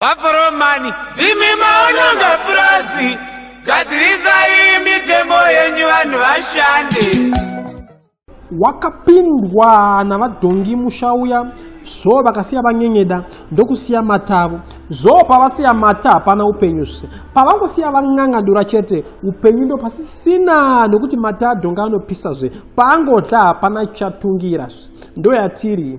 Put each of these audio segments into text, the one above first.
Vaforomani, ndimi maononga purazi, gadzirisai mitemo yenyu vanhu vashande. Wakapindwa navadhongi musha uya zvoo vakasiya vanyenyeda ndokusiya mata avo zvoo pavasiya mata hapana upenyu zve pavangosiya van'ang'adura chete upenyu ndo pasisina nokuti mata adhonga anopisa zve paangotla hapana chatungira zve ndoyatiri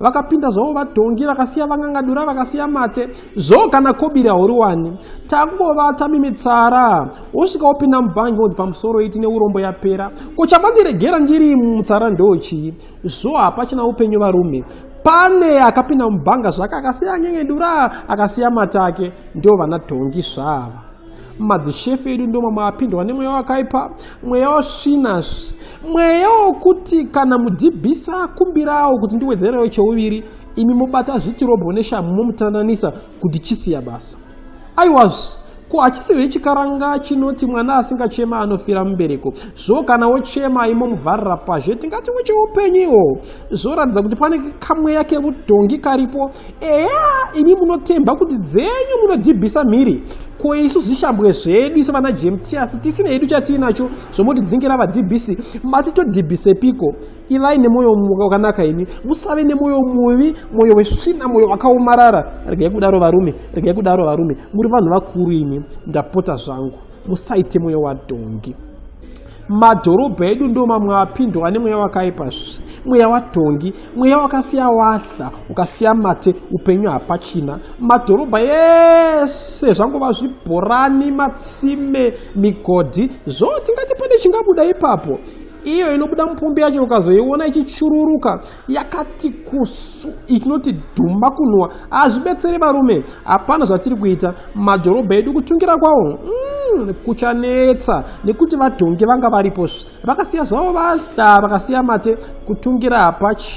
vakapinda zvavo vadhongi vakasiya vangangadura vakasiya mate zvo kana kobiri hauri wani takungovata mimitsara wosvika wopinda mubhangi vonzi pamusoro iti neurombo yapera ko chamandiregera ndiri mutsara ndochii zvo hapachina upenyu varume pane akapinda mubhanga zvake akasiya anyengendura akasiya matake ndo vana dhongi zvava madzishefu edu ndoma maapindwa nemweya wakaipa mweya wasvina mweya wokuti kana mudhibhisa kumbirawo kuti ndiwedzerewo cheuviri imi mobata zvitirobho neshamu momutandanisa kuti chisiya basa aiwazvi ko hachisiwo chikaranga chinoti mwana asingachema anofira mubereko zvo kana wochema imomuvharira pazhe tingati wecheupenyu iwo zvoratidza kuti pane kamweya kevudhongi karipo eya imi munotemba kuti dzenyu munodhibhisa mhiri ko isu zvishambwe zvedu isu vana jemtiasi tisina hedu chatiinacho zvomotidzingira vadhibhisi mati todhibhisepiko ivai nemwoyo wakanaka imi musave nemwoyo muvi mwoyo wesvina mwoyo wakaomarara regai kudaro varume regai kudaro varume muri vanhu vakuru imi ndapota zvangu musaite mwoyo wadhongi madhorobha edu ndo mamwe apindwa nemweya wakaipa zve mweya watongi mweya wakasiya wahla ukasiya mate upenyu hapachina madhorobha yese zvangova zvibhorani matsime migodhi zvo tingati pane chingabuda ipapo iyo inobuda mupombi yacho ukazoiona ichichururuka yakati kusu itinoti dhuma kunwa hazvibetsere varume hapana zvatiri kuita madhorobha edu kutungira kwawo mm, kuchanetsa nekuti vadhongi vanga varipo vakasiya zvavo vahla vakasiya mate kutungira hapachi